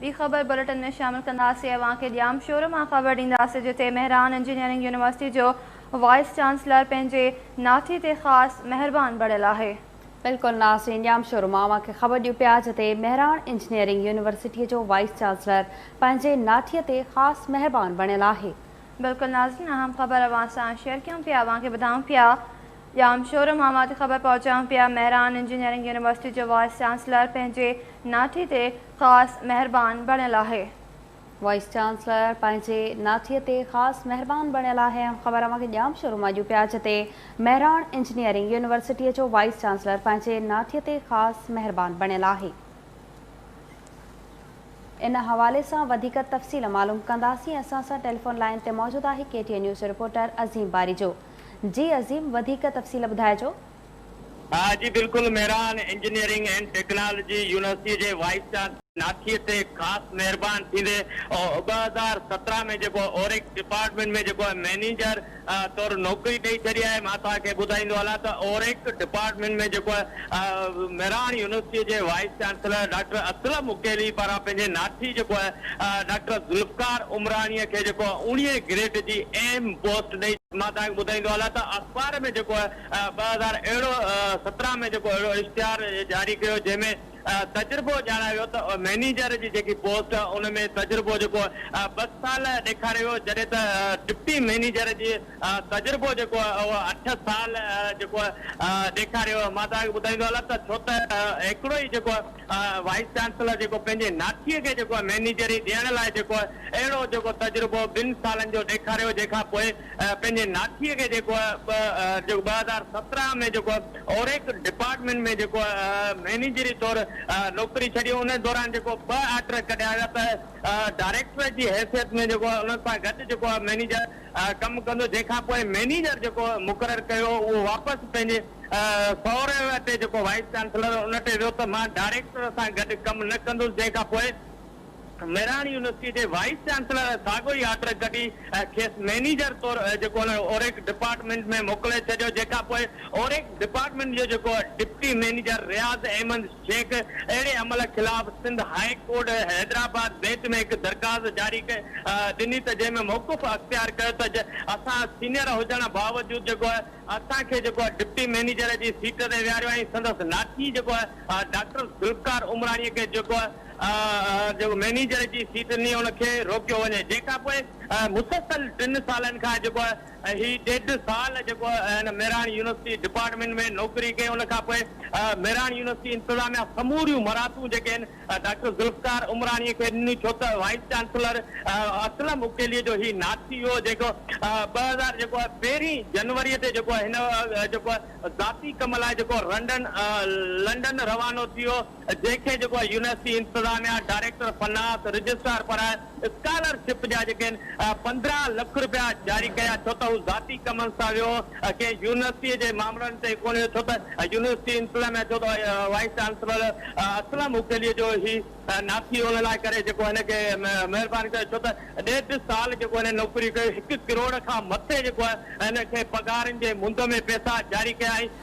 ٻي خبر بليٽن ۾ شامل ڪنداسين اوهان کي ڄامشورو مان خبر ڏينداسين جتي مهراڻ انجنيئرنگ يونيورسٽي جو وائيس چانسلر پنهنجي ناٺي تي خاص مهربان بڻيل آهي. بلڪل ناظرين ڄامشورو مان اوهان کي خبر ڏيون پيا جتي مهراڻ انجنيئرنگ يونيورسٽي جو وائيس چانسلر پنهنجي ناٺي تي خاص مهربان بڻيل آهي. بلڪل ناظرين اهم خبر اوهان سان شيئر ڪيون پيا اوهان کي ٻڌائون پيا. ڄام شورو مان وات خبر پهچائون پيا مهراڻ انجنيئرنگ يونيورسٽي جو وائيس چانسلر پنهنجي ناٺي تي خاص مهربان بڻيل آهي. وائيس چانسلر پنهنجي ناٺي تي خاص مهربان بڻيل آهي اهم خبر اوهان کي ڄام شورو مان ڏيون پيا جتي مهراڻ انجنيئرنگ يونيورسٽي جو وائيس چانسلر پنهنجي ناٺي تي خاص مهربان بڻيل آهي ان حوالي سان وڌيڪ تفصيل معلوم ڪنداسين اسان سان ٽيليفون لائين تي موجود آهي ڪي ٽي اين نيوز جو رپورٽر عظيم باريجو. جي عظيم وڌيڪ تفصيل ٻڌائجو. ها جي بلڪل Mehran engineering and technology university جي وائيس چانسلر ناٿيء تي خاص مهربان ٿيندي ٻه هزار سترهن ۾ جيڪو اوريڪس ڊپارٽمينٽ ۾ جيڪو مئنيجر طور نوڪري ڏئي ڇڏي آهي مان توهان کي ٻڌائيندو هلان ته اوريڪس ڊپارٽمينٽ ۾ جيڪو مهراڻ يونيورسٽيء جي vice chancellor doctor Aslam Makili پاران پنهنجي ناٺي جيڪو آهي ڊاڪٽر ذوالفقار عمراڻيء کي جيڪو آهي اوڻيهين گريڊ جي اهم پوسٽ ڏئي. مان توهان کي ٻڌائيندو هلان ته اخبار ۾ جيڪو آهي ٻه هزار اهڙو سترهن ۾ جيڪو اهڙو اشتهار جاري ڪيو جنهن ۾ تجربو ڄاڻايو ويو ته مئنيجر جي جيڪي پوسٽ ان ۾ تجربو جيڪو آهي ٻه سال ڏيکاريو ويو جڏهن ته ڊپٽي مئنيجر جي تجربو جيڪو اهو اٺ سال جيڪو ڏيکاريو مان توهان کي ٻڌائيندو هلان ته ڇو ته هڪڙو ئي جيڪو وائيس چانسلر جيڪو پنهنجي ناٺي کي جيڪو مينيجري ڏيڻ لاء جيڪو اهڙو جيڪو تجربو ٻن سالن جو ڏيکاريو جنهن کان پوء پنهنجي ناٺي کي جيڪو ٻه هزار سترهن ۾ جيڪو اوريڪ ڊپارٽمينٽ ۾ جيڪو مينيجري طور نوڪري ڇڏي ان دوران جيڪو ٻه آرڊر ڪڍيا ويا ته ڊائريڪٽر جي حيثيت ۾ جيڪو ان سان گڏ جيڪو مينيجر ڪم ڪندو جنهن کان پوء مئنيجر جيڪو مقرر ڪيو هو اهو واپس پنهنجي سهري تي جيڪو وائيس چانسلر هو ان تي ويو ته مان ڊائريڪٽر سان گڏ ڪم نه ڪندس جنهن کان پوء مهراڻ يونيورسٽي جي وائيس چانسلر ساڳيو ئي آرڊر ڪڍي کيس مئنيجر طور جيڪو ان اوريڪ ڊپارٽمينٽ ۾ موڪلي ڇڏيو جنهن کان پوء اوريڪ ڊپارٽمينٽ جو جيڪو ڊپٽي مئنيجر رياض احمد شيخ اهڙي عمل خلاف Sindh high court Hyderabad bench ۾ هڪ درخواست جاري ڏني ته جنهن ۾ موقف اختيار ڪيو ته اسان سينئر هجڻ باوجود جيڪو آهي اسان کي جيڪو آهي ڊپٽي مئنيجر جي سيٽ تي ويهاريو ۽ سندس ناٺي جيڪو آهي ڊاڪٽر ذوالفقار عمراڻي کي جيڪو آهي مئنيجر جي سيٽ ڏني ان کي روڪيو وڃي جنهن کانپوء مسلسل ٽن سالن کان جيڪو آهي ۽ هي ڏيڍ سال جيڪو هن مهراڻ يونيورسٽي ڊپارٽمينٽ ۾ نوڪري ڪئي ان کان پوء مهراڻ يونيورسٽي انتظاميا سموريون مراعتون جيڪي آهن ڊاڪٽر ذوالفقار عمراڻي کي ڏنيون ڇو ته وائيس چانسلر اسلم اڪيلي جو هي ناٿي هو جيڪو ٻه هزار جيڪو پهرين جنوري تي جيڪو هن جيڪو ذاتي ڪم لاء جيڪو رنڊن لنڊن روانو ٿيو. جنهن کي جيڪو آهي يونيورسٽي انتظاميا، ڊائريڪٽر فنانس، رجسٽرار پر اسڪالر شپ جا جيڪي آهن پندرهن لک رپيا جاري ڪيا ڇو ته هو ذاتي ڪمن سان ويو ڪنهن يونيورسٽي جي مامرن تي ڪونه ويو ڇو ته يونيورسٽي انتظاميا چيو ته وائيس چانسلر اسلم اڪيلي جو هي ناٿي ان لاء ڪري جيڪو هن کي مهربان ڪيو ڇو ته ڏيڍ سال جيڪو هن نوڪري ڪئي هڪ ڪروڙ کان مٿي جيڪو آهي هن کي پگهارن جي مند ۾ پئسا جاري ڪيا ۽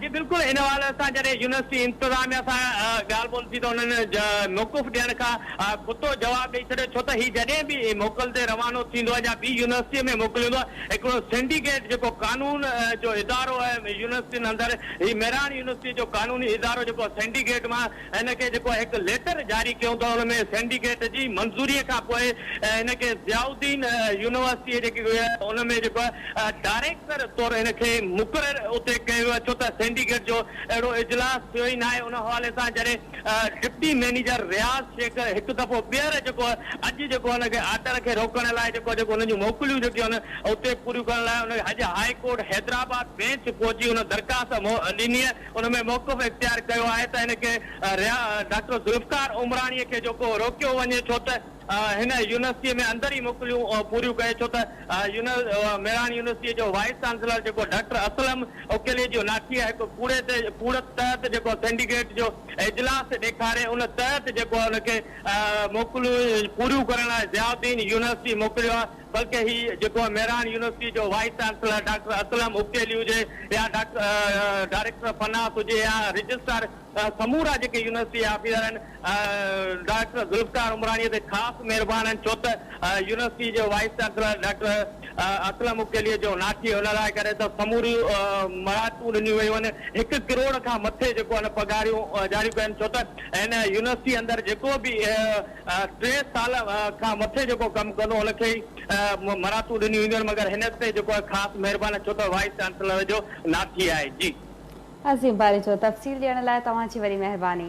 جي بلڪل ان حوالي سان جڏهن يونيورسٽي انتظاميه سان ڳالهه ٻولهه ٿي ته انهن موقف ڏيڻ کان کتو جواب ڏئي ڇڏيو ڇو ته هي جڏهن به موڪل تي روانو ٿيندو آهي يا ٻي يونيورسٽي ۾ موڪليو ويندو آهي هڪڙو سينڊيڪيٽ جيڪو قانون جو ادارو آهي يونيورسٽين اندر هي مهراڻ يونيورسٽي جو قانوني ادارو جيڪو سينڊيڪيٽ مان هن کي جيڪو هڪ ليٽر جاري ڪيو ته ان ۾ سينڊيڪيٽ جي منظوري کان پوء هن کي ضياء الدين يونيورسٽي جيڪي ان ۾ جيڪو ڊائريڪٽر طور هن کي مقرر اتي ڪيو ويو ڇو ته سينڊيڪيٽ جو اهڙو اجلاس ٿيو ئي ناهي ان حوالي سان جڏهن ڊپٽي مئنيجر رياض شيخ هڪ دفعو ٻيهر جيڪو اڄ جيڪو هن کي آرڊر کي روڪڻ لاء جيڪو جيڪو هن جون موڪليون جيڪي هن اتي پوريون ڪرڻ لاء ان اڄ هاء ڪورٽ حيدرآباد بينچ پهچي ان درخواست ڏني ان ۾ موقف اختيار ڪيو آهي ته ان کي ريا ڊاڪٽر ذوالفقار عمراڻي کي جو ڪو روڪيو وڃي ڇو ته هن يونيورسٽي ۾ اندر ئي موڪليون پوريون ڪري ڇو ته ميڙاڻ يونيورسٽي جو وائيس چانسلر جيڪو ڊاڪٽر اسلم اڪيليجو ناٺيء هڪ ڪوڙي تي ڪوڙ تحت جيڪو سينڊيڪيٽ جو اجلاس ڏيکاري ان تحت جيڪو ان کي موڪليون پوريون ڪرڻ لاء ضياء الدين يونيورسٽي موڪليو آهي بلڪه هي جيڪو ميران يونيورسٽي جو vice chancellor doctor Aslam Akeli هجي يا ڊاڪٽر ڊائريڪٽر فناس هجي يا رجسٽرار سمورا جيڪي يونيورسٽي آفيسر آهن ڊائريڪٽر ذوالفقار عمراڻي تي خاص مهربان آهن ڇو ته يونيورسٽي جو vice chancellor doctor Aslam Akeli جو ناٺي ان لاء ڪري ته سموريون مراعتون ڏنيون ويون آهن هڪ ڪروڙ کان مٿي جيڪو آهن پگهاريون ڏياريون پيون آهن ڇو ته هن يونيورسٽي اندر جيڪو به ٽي سال کان مٿي جيڪو ڪم ڪندو ان کي ئي مراعتون ڏنيون وينديون آهن مگر هن تي جيڪو آهي خاص مهربان آهي ڇو ته وائيس چانسلر جو ناٿي آهي جي. عظيم باريجو تفصيل ڏيڻ لاء توهان جي وڏي مهرباني.